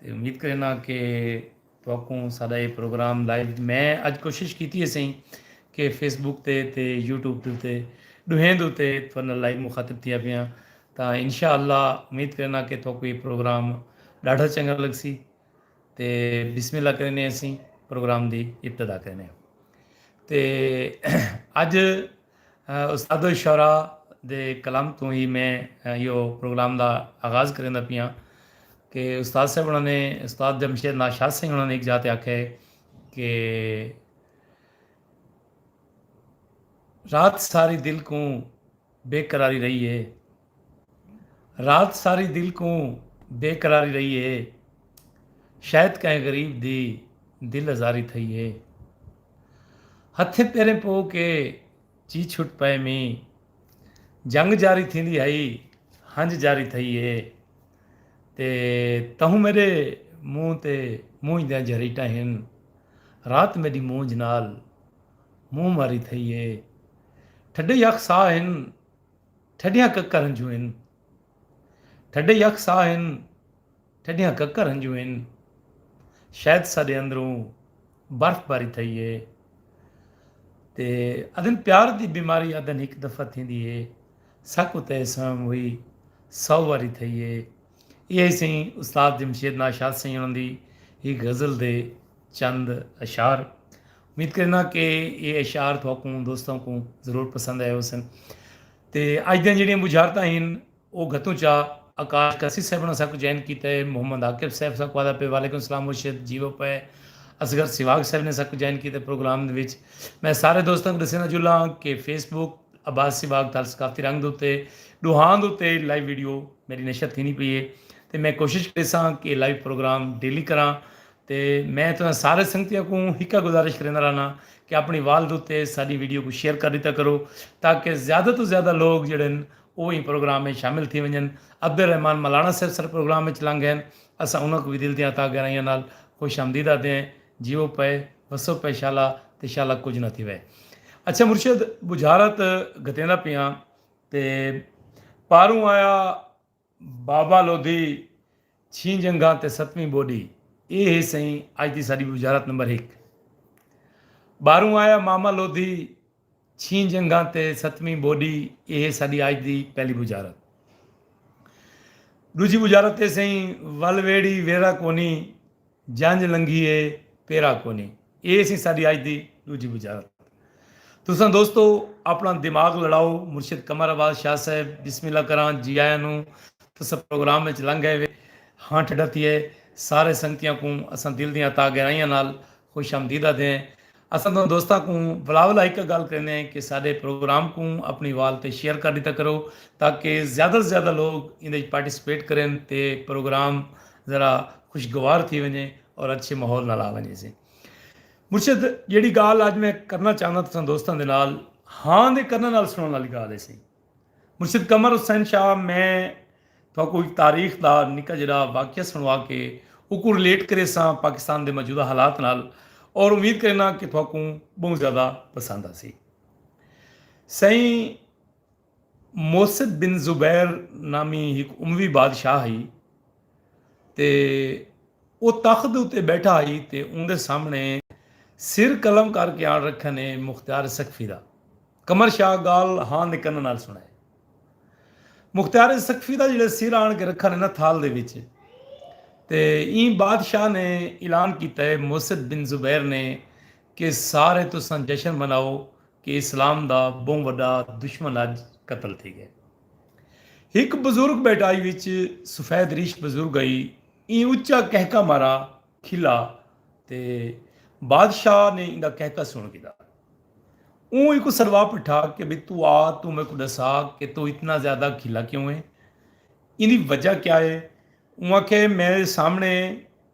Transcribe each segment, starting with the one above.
تے امید کرینداں کہ تہاکوں ساڈا اے پروگرام لائیو میں اج کوشش کیتی ہے سئیں کہ فیس بک تے تے یوٹیوب تے تے ڈوہیں دے اتے تھوڑا لائیو مخاطب تھیا پیاں تاں انشاءاللہ امید کرینداں کہ تہاکوں اے پروگرام ڈاڈھا چنگا لگسی تے بسم اللہ کریندے ہیں سئیں پروگرام دی ابتدا کریندے ہیں تے اج استادالشعراء دے کلام توں ہی میں ایہو پروگرام دا آغاز کریندا پیاں کہ استاد صاحب انہاں نے استاد جمشید ناشاد سنگھ انہاں نے ہک جاہ تے آکھیا ہے کہ رات ساری دل کوں بے قراری رہی ہے۔ رات ساری دل کوں بے قراری رہی ہے شاید کہیں غریب دی دل ازاری تھئی ہے ہتھیں پیریں پو کے چی چھٹ پئے مینہ جنگ جاری تھیندی ہئی ہنج جاری تھئی ہے تے تہوں میڈے منہ تے مونجھ دیاں جھریٹاں ہن رات میڈی مونجھ نال منہ ماری تھئی ہے ٹھڈے یخ ساہ ہن ٹھڈیاں ککر ہنجوں ہن ٹھڈے یک ساہ ہن ٹھڈیاں ککر ہنجوں ہن شاید ساڈے اندروں برف باری تھئی ہے تے ادن پیار دی بیماری ادن ہک دفعہ تھیندی ہے سک اتے سام ہوئی سو واری تھئی ہے یہ سیں استاد جمشید ناشاد سیں انہوں دی ہی غزل دے چند اشعار امید کرنا کہ یہ اشعار تھوکوں دوستوں کو ضرور پسند آئے ہو سن تے اج دن جڑیاں بجھارتاں ہیں وہ گھتوں چا آکاش کسی صاحب نے ساکو جوائن کیتا ہے محمد عاقب صاحب ساکو آدھا پہ وعلیکم السلام مرشد جیو پہ اصغر سواگ صاحب نے ساکو جوائن کیتا ہے پروگرام دے وچ میں سارے دوستوں کو دسینا جلا ہاں کہ فیس بک عباس سواگ تال ثقافتی رنگ دوتے دوہاں دوتے لائیو ویڈیو میری نشر تھی نہیں پی ہے تے میں کوشش کریساں کہ لائیو پروگرام ڈیلی کراں تے میں تساں سارے سنگتیاں کوں ہکا گزارش کریندا رہنا کہ اپنی وال دتے ساڈی ویڈیو کوں شیئر کر ڈتا کرو تاکہ زیادہ توں زیادہ لوگ جیڑھے ہن او ایں پروگرام اچ شامل تھی ونجن عبد الرحمن ملانا صاحب ساڈے پروگرام اچ لنگ گئے ہن اساں انہاں کوں وی دل دیاں تہہ گہرائیاں نال خوش آمدید آدھدے ہیں جیو پئے وسو پئے شالا تے شالا کجھ نہ تھیوے اچھا مرشد بجھارت گھتیندا پیاں تے پاروں آیا۔ بابا لودھی، چھیں جنگھاں تے ستویں ٻوݙی، اے ہے سئیں اڄ دی ساݙی وزارت نمبر ہک۔ ٻاہروں آیا ماما لودھی، چھیں جنگھاں تے ستویں ٻوݙی، اے ہے ساݙی اڄ دی پہلی وزارت۔ ݙوجھی وزارت اے سئیں ول ویڑھی ویرھا کونی، جنج لنگھی اے پیرا کونی۔ اے سی ساڈی اج دی ڈوجھی بجارت۔ تساں دوستو اپنا دماغ لڑاؤ مرشد قمر عباس شاہ صاحب بسم اللہ کراں جی آیاں نو تساں پروگرام اچ لنگ گئے وے ہاں ٹھڈا تھیے سارے سنگتیاں کوں اساں دل دیاں تاگہرائیاں نال خوش آمدید آدھے ہیں اساں تہاں دوستاں کوں بلاول ہک گالھ کریندے ہیں کہ ساڈے پروگرام کوں اپنی وال تے شیئر کر ڈیتا کرو تاکہ زیادہ توں زیادہ لوگ ایندے اچ پارٹیسپیٹ کرن تے پروگرام ذرا خوشگوار تھی ونجے اور اچھے ماحول نال آ ونجے سے مرشد جیڑی گالھ اج میں کرنا چاہنداں تساں دوستاں دے نال ہاں دے کرناں نال سنڑن آلی گالھ ہے سی۔ مرشد قمر حسین شاہ میں تہاکوں ہک تاریخ دا نکا جیہڑا واقعہ سنڑوا کے اوکوں ریلیٹ کریساں پاکستان دے موجودہ حالات نال اور امید کرینا کہ تہاکوں بہوں زیادہ پسند آسی۔ سئیں موسد بن زبیر نامی ہک اموی بادشاہ ہئی تے او تخت دے اتے ٻیٹھا ہئی تے اوندے سامݨے سر قلم کر کے آن رکھن اے مختیار ثقفی دا۔ قمر شاہ ڳالھ ہاں دے کناں نال سݨائے۔ مختیار ثقفی دا جیڑھے سر آن کے رکھن اے نا تھال دے وچ تے ایں بادشاہ نے اعلان کیتا اے موسد بن زبیر نے کہ سارے تساں جشن مناؤ کہ اسلام دا ٻہوں وݙا دشمن اڄ قتل تھی ڳئے۔ ہک بزرگ ٻیٹائی وچ سفید ریش بزرگ ہئی ایں اچا کہکا مارا کھلا تے بادشاہ نے ایندا کہکا سن گھدا اوں ایکو سروا پٹھا کہ بھئی تو آ تو میکو ڈسا کہ تو اتنا زیادہ کھلا کیوں ہے ایندی وجہ کیا ہے اوں آکھے میرے سامنے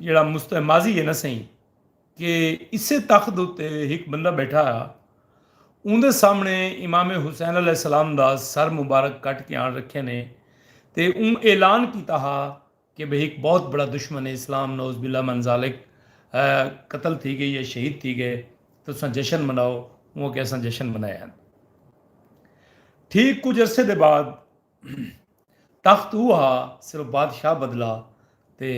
جیڑھا مستہ ماضی ہے نہ سئیں کہ اسے تخت اتے ہک بندہ بیٹھا ہا اوندے سامنے امام حسین علیہ السلام دا سر مبارک کٹ کے آن رکھے نے تے اوں اعلان کیتا ہا کہ بھئی ہک بہت بڑا دشمن اسلام نعوذ باللہ من ذالک قتل تھی گئے یا شہید تھی گئے تساں جشن مناؤ اوں آکھیا اساں جشن منائے ہن ٹھیک کچھ عرصے دے بعد تخت او ہا صرف بادشاہ بدلا تے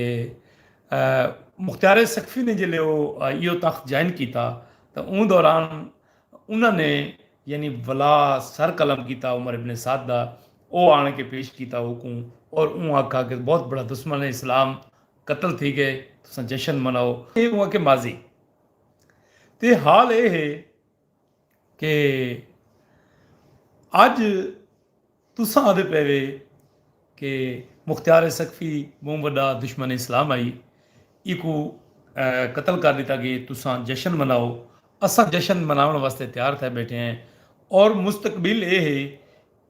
مختار سقفی نے جلے او ایو تخت جوائن کیتا تے اوں دوران انہاں نے یعنی ولا سر قلم کیتا عمر ابن سعد دا او آن کے پیش کیتا اوکوں اور اوں آکھا کہ بہت بڑا دشمن اسلام قتل تھی گئے تساں جشن مناؤ اے اوں آکھے ماضی تے حال اے ہے کہ اج تساں آدھے پئے وے کہ مختیار ثقفی بہوں وڈا دشمن اسلام ہئی ایکوں قتل کر ڈتا گے تساں جشن مناؤ اساں جشن مناون واسطے تیار تھئے بیٹھے ہیں اور مستقبل اے ہے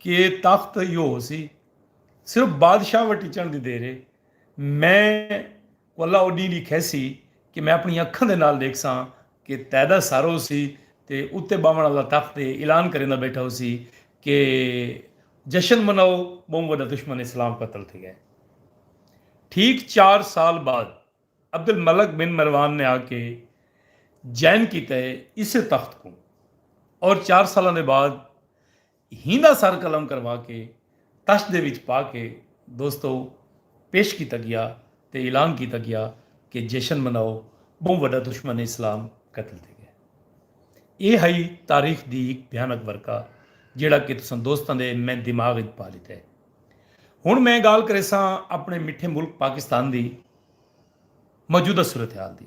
کہ تخت ایہو ہوسی صرف بادشاہ وٹیچن دی دیر ہے میں کوں اللہ او ڈینہہ ڈیکھیسی کہ میں اپنی اکھاں دے نال ڈیکھساں کہ تیڈا سر ہوسی تے اتے باوݨ آلا تخت تے اعلان کریندا بیٹھا ہوسی کہ جشن مناؤ بہوں وڈا دشمن اسلام قتل تھی گئے۔ ٹھیک چار سال بعد عبد الملک بن مروان نے آ کے جائن کیتا ہے اسے تخت کوں اور چار سالاں دے بعد ہیندا سر قلم کروا کے تش دے وچ پا کے دوستو پیش کیتا گیا تے اعلان کیتا گیا کہ جشن مناؤ بہوں وڈا دشمن اسلام قتل تھے گئے اے ہئی تاریخ دی ہک بھیانک ورقہ جیڑھا کہ تساں دوستاں دے میں دماغ وچ پا لیتا ہے ہن میں گال کریساں اپنے مٹھے ملک پاکستان دی موجودہ صورتحال دی۔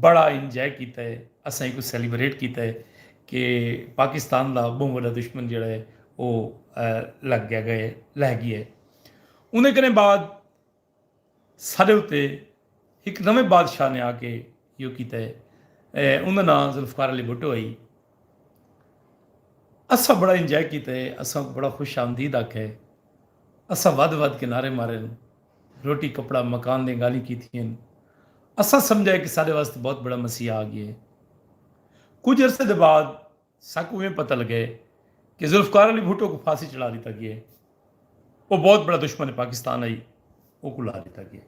بڑا انجوائے کیتا ہے اساں ایکوں سیلیبریٹ کیتا ہے کہ پاکستان دا بہوں وڈا دشمن جیڑا ہے او لگ گیا گئے لہ گیا ہے اندے کنے بعد ساڈے اتے ہک نویں بادشاہ نے آ کے یو کیتا ہے اندا ناں ذوالفقار علی بھٹو ہئی اسا بڑا انجوائے کیتا ہے اساں بڑا خوش آمدید آکھیا ہے اسا ودھ ودھ کے نعرے مارے روٹی کپڑا مکان دیاں گالھیں کیتیاں ہن۔ اساں سمجھا ہے کہ ساڈے واسطے بہت بڑا مسیحا آ گیا ہے۔ کجھ عرصے دے بعد ساکوں ایویں پتہ لگا ہے کہ ذوالفقار علی بھٹو کوں پھانسی چڑھا ڈتا گیا ہے۔ او بہت بڑا دشمن پاکستان ہئی۔ اوکوں لا ڈتا گیا ہے۔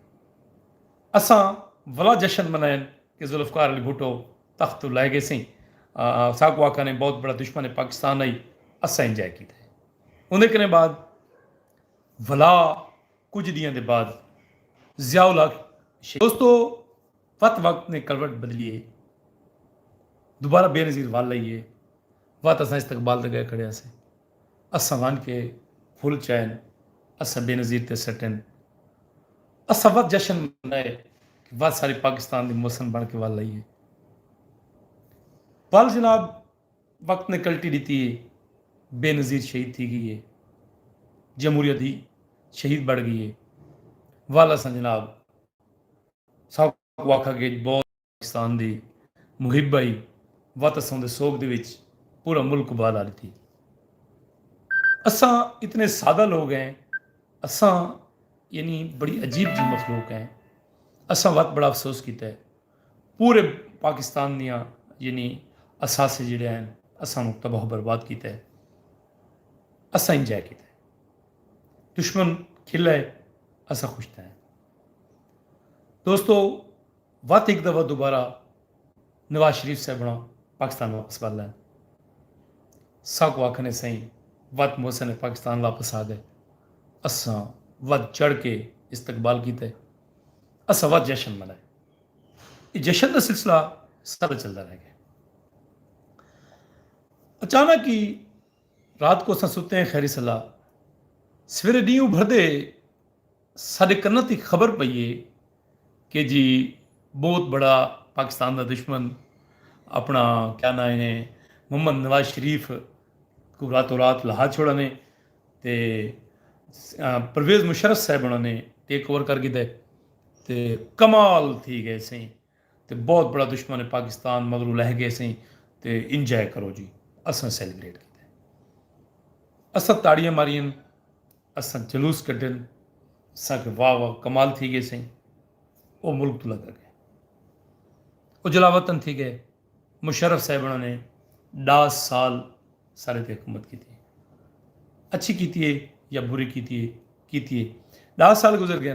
اساں ولا جشن منائن کہ ذوالفقار علی بھٹو تخت توں لہہ گیسیں۔ ساکوں آکھن ہے بہت بڑا دشمن پاکستان ہئی۔ اساں انجھے کیتا ہے۔ اوندے کنیں بعد۔ ولا کجھ ڈینہاں دے بعد ضیاء الحق شہید۔ دوستو وت وقت نے کروٹ بدلی ہے دوبارہ بے نظیر ول آئی ہے وت اساں استقبال دے گئے کھڑے ہاسے اساں ون کے پھل چائن اساں بے نظیر تے سٹن اساں وت جشن منائے کہ وت سارے پاکستان دی محسن بن کے ول آئی ہے ول جناب وقت نے کلٹی ڈتی ہے بے نظیر شہید تھی گئی ہے جمہوریت دی شہید بڑ گئی ہے والا سا جناب ساکو واکھا گے بہت پاکستان دی محب آئی وات اساں دے سوگ دے وچ پورا ملک بالا ڈتی اساں اتنے سادہ لوگ ہیں اساں یعنی بڑی عجیب جی مخلوق ہیں اساں وات بڑا افسوس کیتا ہے پورے پاکستان دیاں یعنی اثاثے جیڑھے ہن اسانوں تباہ و برباد کیتا ہے اساں انجوائے کیتا ہے دشمن کھلا ہے اساں خوش تھے ہیں دوستو وت ہک دفعہ دوبارہ نواز شریف صاحبنا پاکستان واپس والا ہے سا کو آکھنے سائیں وت محسن پاکستان واپس آ گئے اساں ود چڑھ کے استقبال کیتا ہے اساں ود جشن منائے اے جشن دا سلسلہ سارا چلدا رہ گئے۔ اچانک ہی رات کو اساں ستے ہیں خیری صلاح سویرے ڈینہہ ابھردے ساڈے کناں تے خبر پئی اے کہ جی بہت بڑا پاکستان دا دشمن اپنا کیا ناں اے محمد نواز شریف کو راتو رات لہا چھوڑا نے تے پرویز مشرف صاحب انہاں نے ٹیک اوور کر گھدا ہے۔ تے کمال تھی گئے سئیں تے بہت بڑا دشمن پاکستان مگروں لہہ گئے سئیں تے انجوائے کرو جی اساں سیلیبریٹ کیتے اساں تاڑیاں مارین اساں جلوس کڈن اساں کہ واہ واہ کمال تھی گئے سئیں او ملک تو لگا گئے او جلا وطن تھی گئے مشرف صاحبنا نے ڈا سال سارے تے حکومت کیتی اچھی کیتی ہے یا بری کیتی ہے کیتی ہے ڈا سال گزر گئے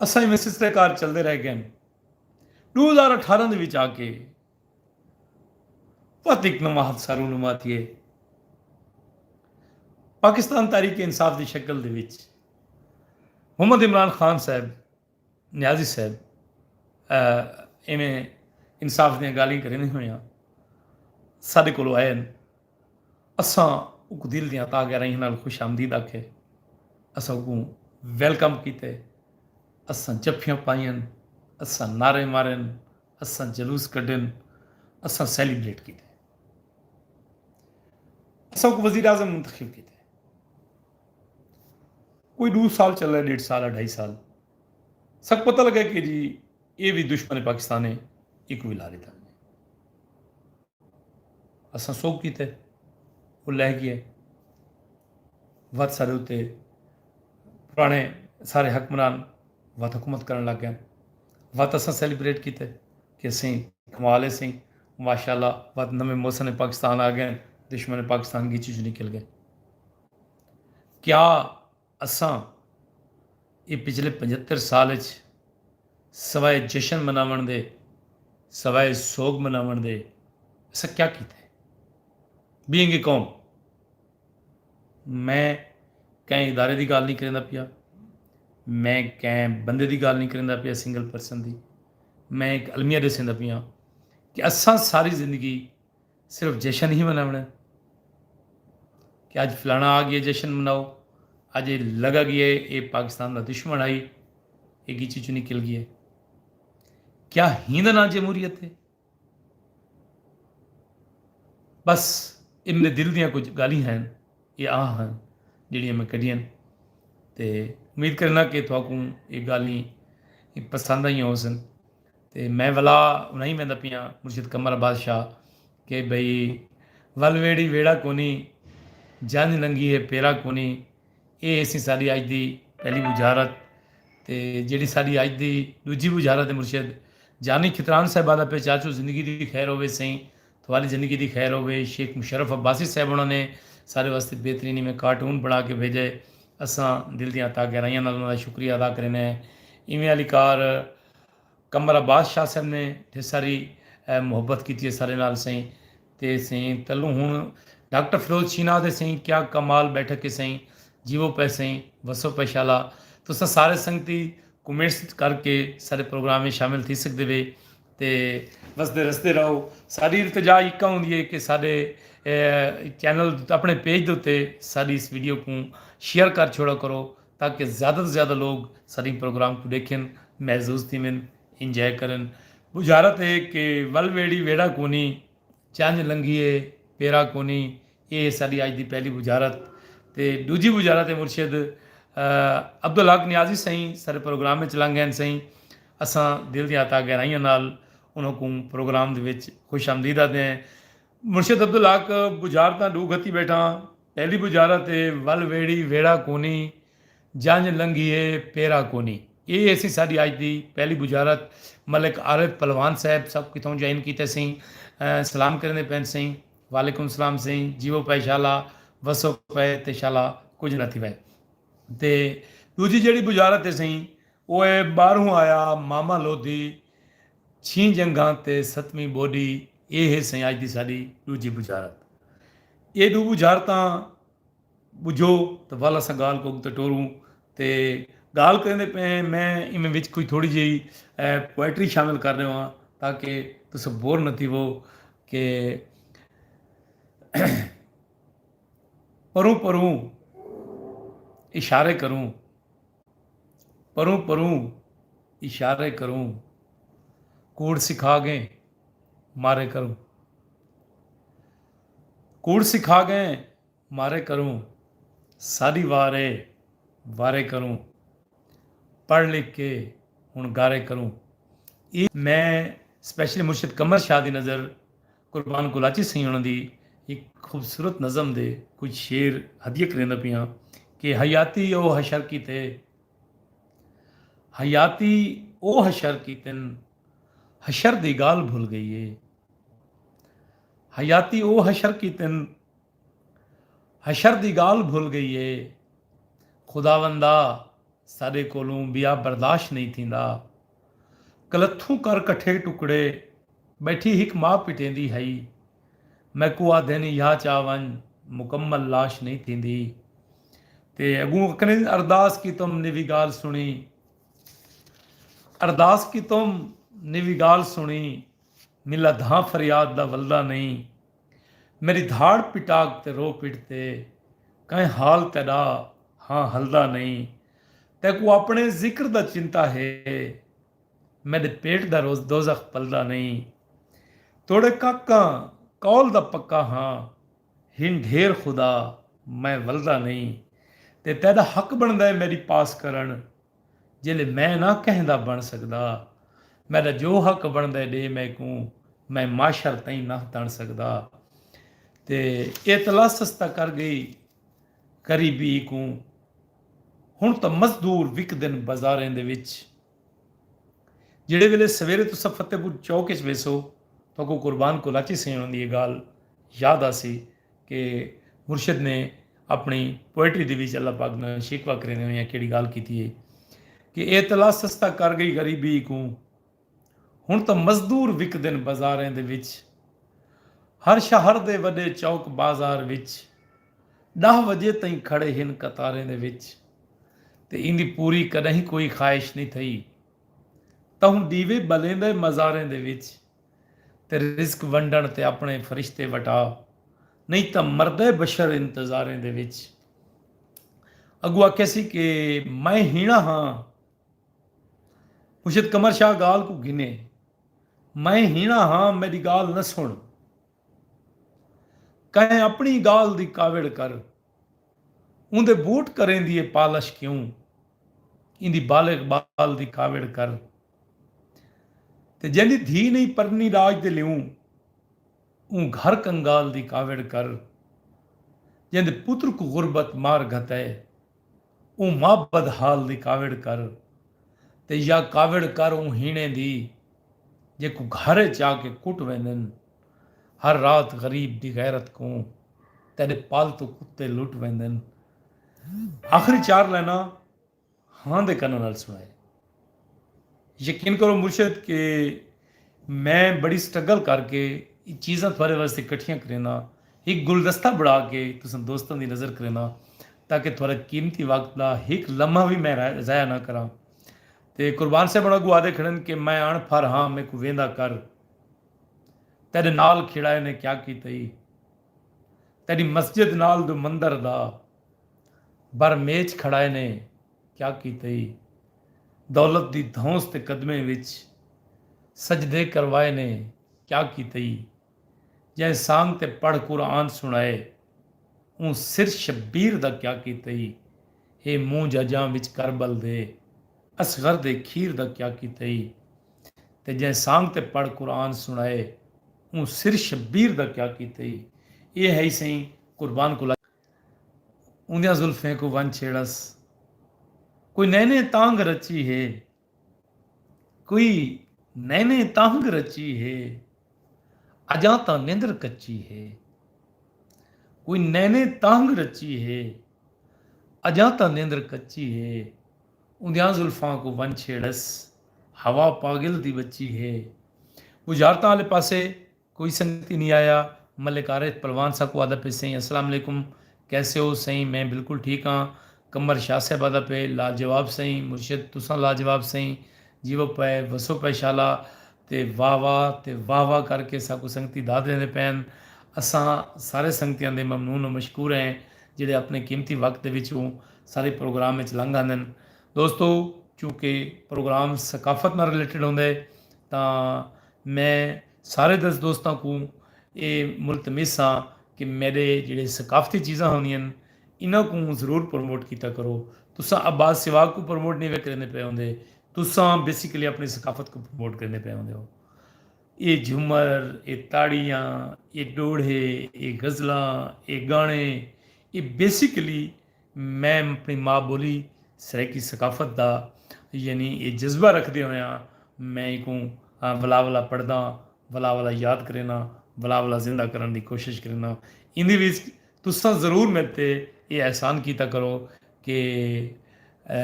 اساں ایویں سسرے کار چلدے رہ گئے ہن۔ ݙو ہزار اٹھارہ دے وچ آ کے وت ہک نواں حادثہ رونما تھیے۔ پاکستان تحریک انصاف دی شکل دے وچ محمد عمران خان صاحب، نیازی صاحب ایویں انصاف دیاں گالھیں کریندے ہوئیاں ساݙے کولو آئے ہن۔ اساں اوکوں دل دیاں تاہ گہرائیاں نال خوش آمدید آکھے، اساں اوکوں ویلکم کیتے، اساں جفیاں پائیاں، اساں نعرے مارے، اساں جلوس کڈھے، اساں سیلیبریٹ کیتے۔ اساں اوکوں وزیر اعظم منتخب کیتے۔ کوئی ڈو سال چلے، ڈیڈھ سال، اڈھائی سال، ساکوں پتہ لگا کہ جی ایہ وی دشمن پاکستان ہے، ایکوں وی لا ڈتا ونجے۔ اساں سوک کیتے او لہ گئے وت سارے اتے پرانے سارے حکمران وت حکومت کرن لگ گئے وت اساں سیلیبریٹ کیتے کہ سیں کمالے سیں ماشاء اللہ وت نویں موسم پاکستان آ گئے دشمن پاکستان گیچی چ نکل گئے کیا اساں ایں پچھلے پنجھتر سال اچ سوائے جشن مناوݨ دے، سوائے سوڳ مناوݨ دے اساں کیا کیتے؟ بینگ اے قوم میں کہیں ادارے دی ڳالھ نئیں کریندا پیا، میں کہیں بندے دی ڳالھ نئیں کریندا پیا سنگل پرسن دی، میں ہک المیہ ݙسیندا پیاں کہ اساں ساری زندگی صرف جشن ہی مناوݨا ہے کہ اج فلانا آ گیا جشن مناؤ اج یہ لگا گیا ہے اے پاکستان دا دشمن آئی اے گیچی چو نکل گیا ہے کیا ہی دا نام جمہوریت ہے بس اے میرے دل دیاں کچھ گالی ہیں اے آ ہیں جڑیاں میں کڈیاں تے امید کرنا کہ تھوکوں اے گالی پسند آئیاں ہو سن تے میں ولا انہائیں ویندا پیاں مرشد قمر عباس شاہ کہ بھئی ول ویڑھی ویڑھا کونی جنج لنگھی ہے پیرا کونی اے ہیسی ساڈی اج دی پہلی بجھارت تے جیڑھی ساڈی اج دی ڈوجھی بجھارت ہے مرشد جانی کھتران صاحبہ دا پہ چاچو زندگی دی خیر ہووے سئیں تھوالی زندگی دی خیر ہووے شیخ مشرف عباسی صاحب انہاں نے سارے واسطے بہترینی میں کارٹون بنا کے بھیجے اساں دل دیاں تاگہرائیاں نال انہاں دا شکریہ ادا کرینے ایویں علی کار قمر عباس شاہ صاحب نے تھے ساری محبت کیتی ہے سارے نال سائیں تے سائیں تلوں ہن ڈاکٹر فیروز شینا دے سائیں کیا کمال بیٹھک ہے سائیں جیو پے سائیں وسو پے شالا تساں سارے سنگتی کمنٹس کر کے سارے پروگرام میں شامل تھی سکدے وے تے وسدے رسدے رہو ساری التجا یکا ہوندی ہے کہ سارے چینل اپنے پیج دے تے ساری اس ویڈیو کو شیئر کر چھوڑا کرو تاکہ زیادہ توں زیادہ لوگ ساݙیں پروگرام کوں ݙیکھن، محظوظ تھیون، انجوائے کرن۔ بجھارت اے کہ ول ویڑھی ویڑھا کونی، چنج لنگھی اے پیرا کونی، اے ہے ساݙی اڄ دی پہلی بجھارت تے ݙوجھی بجھارت اے مرشد عبدالحق نیازی سئیں ساݙے پروگرام وچ لنگھ ڳئن سئیں اساں دل دیاں عطا گہرائیاں نال انہاں کوں پروگرام دے وچ خوش آمدید آہدے ہیں مرشد عبدالحق بجھارتاں ݙو گھتی ٻیٹھاں۔ تیݙی بجارا تے ول ویڑھی ویڑھا کونی جنج لنگھیے پیرا کونی اے ہیسی ساݙی اڄ دی پہلی بجارت ملک عارف پلوان صاحب سب کتھوں جوائن کیتے سئیں سلام کریندے پئن سئیں وعلیکم سلام سئیں جیو پئے شالا وسو پئے تے شالا کجھ نہ تھیوے تے ݙوجھی جیڑھی بجارت اے سئیں او اے ٻاہروں آیا ماما لودھی چھیں جنگھاں تے ستویں ٻوݙی اے ہے سئیں اڄ دی ساݙی ݙوجھی ٻجھارت اے ݙو ٻجھارتاں ٻجھو تاں ول اساں ڳالھ کوں اڳتے ٹوروں تے ڳالھ کریندے پئے ہیں میں ایویں وچ کجھ تھوڑی جئی پوئٹری شامل کر ݙیواں تاکہ تساں بور نہ تھیوو کہ پروں پروں اشارے کروں۔ پروں پروں اشارے کروں کوڑ سکھا گئیں مارے کروں کوڑ سکھا گئیں مارے کروں ساڈی وار اے وارے کروں پڑھ لکھ کے ہن گارے کروں اے میں سپیشلی مرشد قمر شاہ دی نظر قربان کولاچی سئیں انہاں دی ہک خوبصورت نظم دے کجھ شعر ہدیہ کریندا پیاں کہ حیاتی او حشر کیتے حیاتی او حشر کیتن حشر دی گالھ بھل گئی اے حیاتی او حشر کیتن حشر دی گالھ بھل گئی اے خداوندا ساڈے کولوں بیا برداشت نہیں تھیندا کلتھوں کر کٹھے ٹکڑے بیٹھی ہک ماء پٹیندی ہئی۔ میکوں آدھینی یا چا ونج مکمل لاش نئیں تھیندی۔ تے اگوں اکھنین ارداس کیتم نیوی گال سنڑی۔ ارداس کیتم نیوی گال سنڑی ملا دھاں فریاد دا ولدا نئیں۔ میݙی دھاڑ پٹاک تے رو پٹ تے کئیں حال تیݙا ہاں ہلدا نئیں تیکوں آپݨے ذکر دا چنتا ہے میݙے پیٹ دا روز دوزخ پلدا نئیں توڑے کاکاں قول دا پکا ہاں ہن ڈھیر خدا میں ولدا نئیں تے تیݙا حق بݨدا ہے میݙی پاس کرݨ جیلے میں نہ کہیں دا بݨ سڳدا میݙا جو حق بݨدے ݙے میکوں میں معاشر تئیں نہ تݨ سڳدا تے ایتلاسس تاں کر ڳئی غریبی کوں ہݨ تاں مزدور وکدن بازاریں دے وچ جیڑھے ویلے سویرے تساں فتح پور چوک وچ ویسو تاکوں قربان کولاچی سئیں ہوندی اے ڳال یاد آسی کہ مرشد نے اپݨی پوئٹری دے وچ اللہ پاک نال شکوہ کریندے ہوئیاں کیڑی گالھ کیتی ہے کہ اے تلا سستا کر گئی غریبی کوں ہن تاں مزدور وکدن بازاریں دے وچ ہر شہر دے وݙے چوک بازار وچ ݙاہ وجے تئیں کھڑے ہن قطاریں دے وچ تے ایندی پوری کݙاہیں کوئی خواہش نی تھئی تہوں ݙیوے ٻلیندے مزاریں دے وچ۔ تے رزق ونڈݨ تے آپݨے فرشتے وٹا نہیں تاں مردہ بشر انتظاریں دے وچ اگو آکھے سی کہ میں ہینا ہاں مشید کمر شاہ گال کو گھنے میں ہینا ہاں میری گال نہ سن کہیں اپنی گال دی کاوڑ کر ان دے بوٹ کریں دیئے پالش کیوں ان دی بالغ بال دی کاوڑ کر تے جیندی دھی نئیں پرنی راج دے لیوں اوں گھر کنگال دی کاوڑ کر جیندے پتر کوں غربت مار گھتے اوں ماء بدحال دی کاوڑ کر تے یا کاوڑ کر اوں ہیݨیں دی جیکوں گھر اچ آ کے کٹ ویندن ہر رات غریب دی غیرت کوں تیݙے پالتو کتے لٹ ویندن آخری چار لائناں ہاں دے کناں نال سنڑائے۔ یقین کرو مرشد کہ میں بڑی سٹرگل کر کے اے چیزاں تھوارے واسطے کٹھیاں کرینداں ہک گلدستہ بنڑا کے تساں دوستاں دی نظر کرینداں تاکہ تھوارا قیمتی وقت دا ہک لمحہ وی میں ضائع نہ کراں تے قربان صاحب ہن اگوں آدھے کھڑن کہ میں اݨ پھر ہاں میکوں ویندا کر تیڈے نال کھیڑائے نے کیا کیتا ای تیڈی مسجد نال دو مندر دا بر میچ کھڑائے نے کیا کیتئی۔ دولت دی دھونس تے قدمیں وچ سجدے کروائے نے کیا کیتئی۔ جئیں سانگ تے پڑھ قرآن سنڑائے اوں سر شبیر دا کیا کیتئی۔ ہے مونجھ اجاں وچ کربل دے اصغر دے کھیر دا کیا کیتئی۔ تے جئیں سانگ تے پڑھ قرآن سنڑائے اوں سر شبیر دا کیا کیتئی۔ ایہ ہئی سئیں قربان کلچ۔ اوندیاں زلفیں کوں ونج چھیڑس کوئی نئیں نئیں تانگھ رچی ہے کوئی نئیں نئیں تانگھ رچی ہے اجاں تاں نندر کچی ہے کوئی نئیں نئیں تانگھ رچی ہے اجاں تاں نندر کچی ہے اوندیاں زلفاں کو ونج چھیڑس ہوا پاگل دی بچی ہے بجارتاں والے پاسے کوئی سنگت ای نی آیا۔ ملک عارف پلوان ساکوں آہدا پئے سئیں السلام علیکم کیسے ہو سئیں میں بالکل ٹھیک ہاں قمر شاہ صاحب آہدا پئے لاجواب سئیں مرشد تساں لاجواب سئیں جیو پئے وسو پئے شالا تے واہ واہ تے واہ واہ کر کے ساکوں سنگتی داد ݙیندے پئن اساں سارے سنگتیاں دے ممنون و مشکور ہیں جیڑھے اپݨے قیمتی وقت دے وچوں سارے پروگرام وچ لنگھ آندن دوستو چونکہ پروگرام ثقافت نال ریلیٹڈ ہوندے تاں میں سارے دس دوستاں کوں اے ملتمس ہاں کہ میڈے جیڑھے ثقافتی چیزاں ہوندین انہاں کوں ضرور پروموٹ کیتا کرو۔ تساں عباس سواگ کوں پروموٹ نی وے کریندے پئے ہوندے۔ تساں بیسیکلی اپنی ثقافت کوں پروموٹ کریندے پئے ہوندے ہو۔ اے جھمر، اے تاڑیاں، اے ڈوہڑے، اے غزلاں، اے گانے اے بیسیکلی میں اپݨی ماء ٻولی سرائیکی ثقافت دا یعنی اے جذبہ رکھدے ہویاں میں اینکوں ولا ولا پڑھداں ولا ولا یاد کرینداں ولا ولا زندہ کرݨ دی کوشش کرینداں ایندے وچ تساں ضرور میڈ تے اے احسان کیتا کرو کہ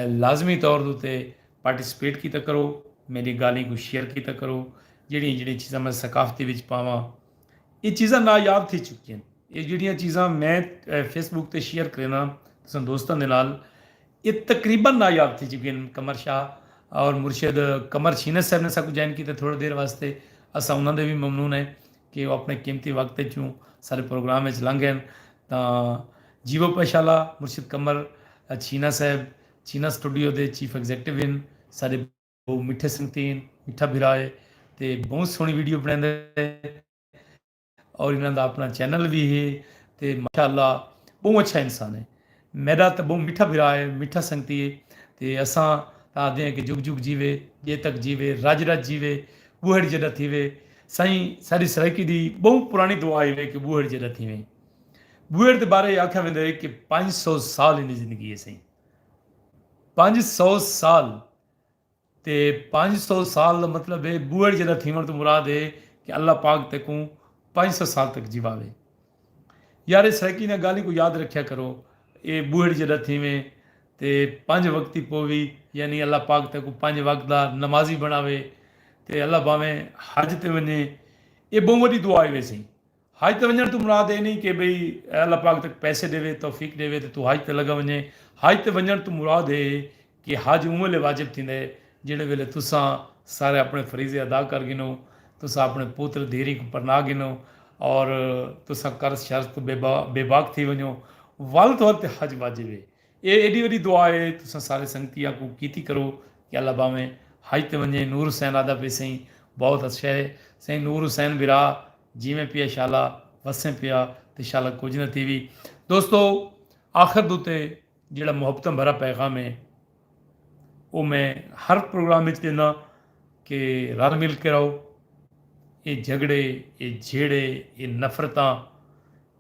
لازمی طور دے اتے پارٹیسپیٹ کیتا کرو میڈی گالھیں کوں شیئر کیتا کرو جیڑھیاں جیڑھیاں چیزاں میں ثقافتی وچ پاواں اے چیزاں نایاب تھی چکی ہن۔ اے جیڑھیاں چیزاں میں فیس بک تے شیئر کرینداں تساں دوستاں دے نال اے تقریبا نایاب تھی چکی ہن۔ قمر شاہ اور مرشد قمر چھینس صاحب نے اساں کوں جوائن کیتے تھوڑے دیر واسطے اساں انہاں دے وی ممنون ہیں کہ او اپنے قیمتی وقت اچوں سارے پروگرام اچ لنگھ گئے ہن تاں جیوو پشہ اللہ مرشد قمر چھینا صاحب چھینا سٹوڈیو دے چیف ایگزیکٹو ہن ساڈے او مٹھے سنگتین مٹھا بھرا ہے تے بہت سوہنی ویڈیو بنیندا ہے اور انہاں دا اپنا چینل وی ہے تے ماشاءاللہ بہوں اچھا انسان ہے میڈا تاں بہوں مٹھا بھرا ہے مٹھا سنگتی ہے تے اساں تاں آکھدے ہیں کہ جگ جگ جیوے جے تک جیوے رج رج جیوے بوہڑ جیڈا تھیوے سائیں ساڈی سرائیکی دی بہوں پرانی دعا ہے کہ بوہڑ جیڈا تھیویں بوہڑ دے بارے آکھیا ویندا ہے کہ پنج سو سال ایندی زندگی ہے سائیں پنج سو سال تے پنج سو سال دا مطلب ہے بوئڑ جیدا تھیوݨ توں مراد ہے کہ اللہ پاک تیکوں پنج سو سال تک جیواوے۔ یار اے سرائیکی انہاں گالھیں کوں یاد رکھیا کرو اے بوئڑ جیڈا تھیویں تے پنج وقتی پووی یعنی اللہ پاک تیکوں پنج وقت دا نمازی بنڑاوے تے اللہ بھانویں حج تے ونجیں اے بہوں وڈی دعا ہے ویسے۔ حج تے ونجنڑ توں مراد اے نئیں کہ بھئی اے اللہ پاک تک پیسے ڈیوے، توفیق ڈیوے تے توں حج تے لگا ونجیں، حج تے ونجنڑ توں مراد اے کہ حج اوں ویلے واجب تھیندا اے جیڑھے ویلے تساں سارے اپنڑے فریضے ادا کر گھنو، تساں اپنڑے پتر دھیریں کوں پرنا گھنو اور تساں قرض شرض توں بے باک تھی ونجو ول تہاڈے تے حج واجب اے۔ اے ایڈی وڈی دعا اے تساں سارے سنگتی آکوں کیتی کرو کہ اللہ باویں حج تے ونجیں نور حسین آدا پے سئیں بہت اچھے ہے سئیں نور حسین برا جیویں پیا شالا وسیں پیا تے شالا کجھ نہ تھیوی دوستو آخر دو تے جیڑا محبتاں بھرا پیغام ہے او میں ہر پروگرام وچ دینا کہ رل مل کے رہو اے جھگڑے اے جھیڑے اے نفرتاں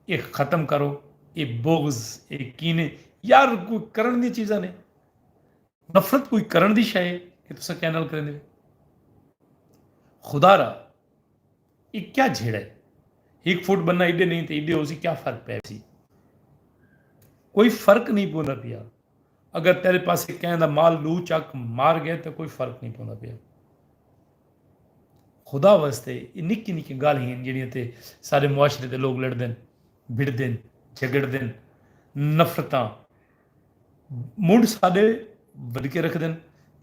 اے ختم کرو اے بغض اے کینے یار کوئی کرن دی چیزاں نے نفرت کوئی کرن دی شے ہے کہ تسا کیا نال کریندے خدا را اے کیا جھیڑا ہے ایک فٹ بننا ایڈے نہیں تے ایڈے ہو سی کیا فرق پے سی کوئی فرق نہیں پوندا پیا اگر تیرے پاسے کہیں دا مال لو چک مار گئے تے کوئی فرق نہیں پوندا پیا۔ خدا واسطے یہ نکی نکی گال ہیں جڑیاں تے سارے معاشرے دے لوگ لڑ دن بھڑ دن جھگڑ دن نفرتاں منڈ سارے ود کے رکھ دن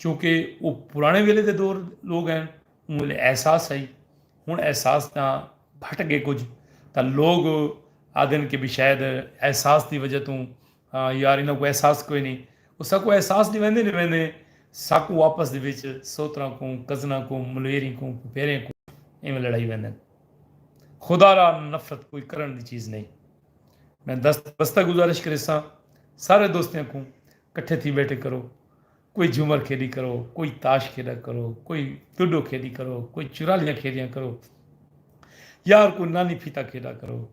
چونکہ وہ پرانے ویلے دے دور لوگ ہیں ان ویلے احساس آئی ہن احساس تاں بھٹ گئے کچھ تاں لوگ آدن کے بھی شاید احساس دی وجہ توں ہاں یار انہاں کوں احساس کوئی نئیں او ساکوں احساس ڈیویندے ڈیویندے ساکوں آپس دے وچ سوتراں کوں کزناں کوں ملویریں کوں پھوپھیریں کوں ایویں لڑائی ویندن خدا را نفرت کوئی کرن دی چیز نئیں میں دست بستہ گزارش کریساں سارے دوستیاں کوں کٹھے تھی بیٹھے کرو کوئی جھومر کھیڈی کرو کوئی تاش کھیڈا کرو کوئی ڈوڈو کھیڈی کرو کوئی چرالیاں کھیڈیاں کرو یار کوئی نانی پھیتا کھیڈا کرو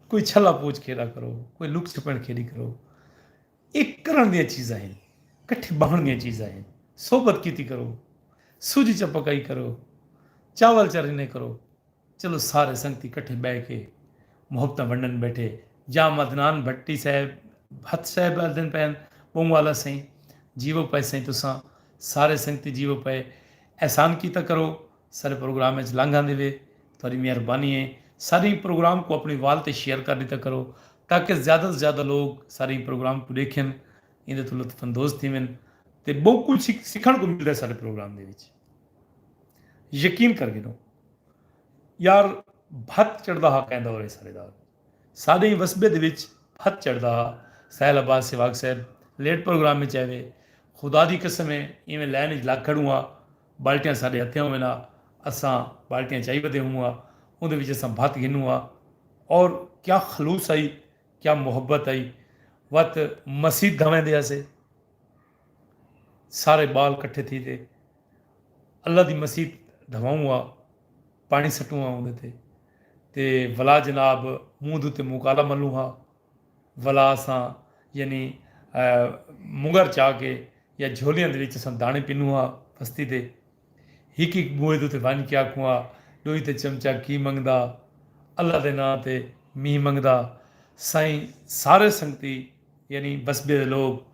کوئی چھلا پوچھ کھیݙا کرو، کوئی لک چھپݨ کھیݙی کرو۔ اے کرݨ دیاں چیزاں ہن، کٹھے ٻہݨ دیاں چیزاں ہن۔ صحبت کیتی کرو، سوجھی چا پکائی کرو، چاول چا رنھے کرو۔ چلو سارے سنگتی کٹھے ٻہہ کے محبتاں ونݙن ٻیٹھے۔ یا مدنان بھٹی صاحب، بھت صاحب آہدن پئے ہن، ٻہوں آلا سئیں، جیوو پئے سئیں تساں، سارے سنگتی جیوو پئے۔ احسان کیتا کرو۔ سارے پروگرام اچ لنگ آندی وے تہاڈی مہربانی اے ساریں پروگرام کوں اپنی وال تے شیئر کر ڈیتا کرو تاکہ زیادہ توں زیادہ لوگ ساریں پروگرام کوں ڈیکھن ایندے توں لطف اندوز تھیون تے بہوں کجھ سکھن کوں ملدا اے سارے پروگرام دے وچ یقین کر گھنو یار بھت چڑھدا ہا کہیں دور اے سارے دا ساڈیں وسبے دے وچ بھت چڑھدا ہا سہیل عباس سہواگ صاحب لیٹ پروگرام اچ آئے وے خدا دی قسم اے ایویں لائن اچ لگ کھڑوں ہاں بالٹیاں ساڈے ہتھیاں ہوون ہا اساں بالٹیاں چائی ودے ہوون ہا اوندے وچ اساں بھت گھنوں ہا اور کیا خلوص ہئی کیا محبت ہئی وت مسیت دھاں ویندے ہسے سارے بال کٹھے تھی تے اللہ دی مسیت دھواؤں ہا پانی سٹوں ہا اوندے تے تے ولا جناب منہ دو تے مکالا ملوں ہا ولا اساں یعنی مگر چا کے یا جھولیاں دے وچ اساں داݨے پنوں ہا پستی دے ہک ہک بوئے دے اتے ونج کے آکھوں ہا ݙوئی تے چمچا کی منگدا اللہ دے ناں تے مینہ منگدا سائیں سارے سنگتی یعنی بسبے دے لوک